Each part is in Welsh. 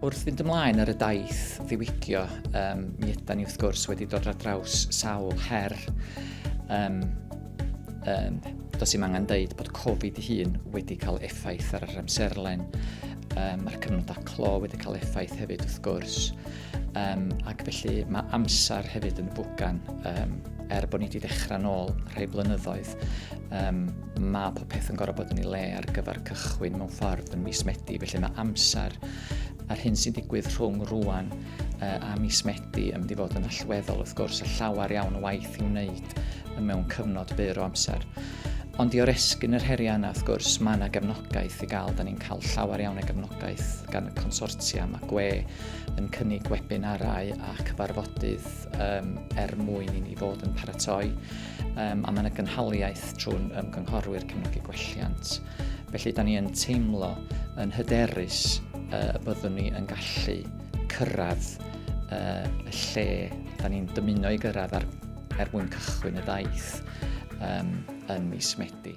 Wrth fynd ymlaen ar y daith ddiwygio, um, mi yda ni wrth gwrs wedi dod ar draws sawl her. Um, um, does i'm angen dweud bod Covid i hun wedi cael effaith ar yr amserlen. Um, Mae'r cyfnodau clo wedi cael effaith hefyd wrth gwrs. Um, ac felly mae amser hefyd yn y bwgan, um, er bod ni wedi dechrau nôl rhai blynyddoedd. Um, mae popeth yn gorfod bod yn ei le ar gyfer cychwyn mewn ffordd yn mis Medi, felly mae amser a'r hyn sy'n digwydd rhwng rwan uh, a mis Medi yn mynd i fod yn allweddol wrth gwrs a llawer iawn o waith i'w wneud mewn cyfnod byr o amser. Ond i oresgyn yr heriau yna, wrth gwrs, mae yna gefnogaeth i gael. Da ni'n cael llawer iawn o gefnogaeth gan y consortia. Mae GWE yn cynnig webinarau a cyfarfodydd um, er mwyn i ni fod yn paratoi. um, a mae yna gynhaliaeth trwy'n ymgynghorwyr cefnogi gwelliant. Felly, da ni yn teimlo yn hyderus uh, y byddwn ni yn gallu cyrraedd uh, y lle da ni'n dymuno i gyrraedd ar, er mwyn cychwyn y ddaith um, yn mis Medi.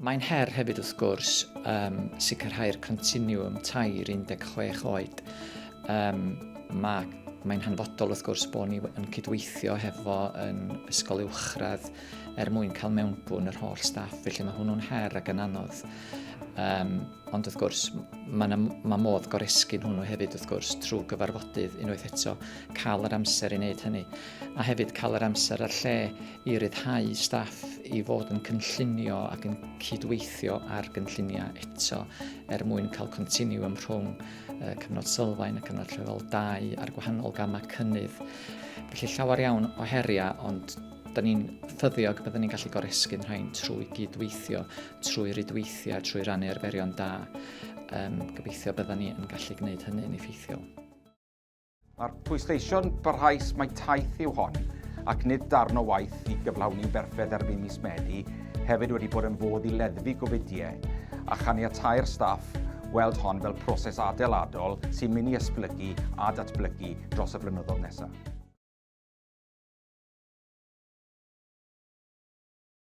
Mae'n her hefyd wrth gwrs um, sicrhau'r continiwm tair 16 oed. Um, mae Mae'n hanfodol wrth gwrs bod ni yn cydweithio hefo yn ysgol uwchradd er mwyn cael mewnbwn yr holl staff, felly mae hwnnw'n her ac yn anodd. Um, ond wrth gwrs, mae, ma modd goresgyn hwnnw hefyd wrth gwrs trwy gyfarfodydd unwaith eto, cael yr amser i wneud hynny, a hefyd cael yr amser a'r lle i ryddhau staff i fod yn cynllunio ac yn cydweithio ar gynlluniau eto er mwyn cael continiwm rhwng uh, cyfnod sylfaen a cyfnod llefel 2 a'r gwahanol gamau cynnydd. Felly llawer iawn o heriau, ond da ni'n ffyddiog byddwn ni'n gallu goresgyn rhain trwy gydweithio, trwy rydweithio, trwy rannu arferion da. Um, gobeithio byddwn ni yn gallu gwneud hynny'n effeithiol. Mae'r pwysleisio'n barhaus mai taith yw hon, ac nid darn o waith i gyflawni'n berffedd erbyn mis Medi hefyd wedi bod yn fodd i leddfu gofidiau a chaniatau'r staff weld hon fel proses adeiladol sy'n mynd i esblygu a datblygu dros y blynyddoedd nesaf.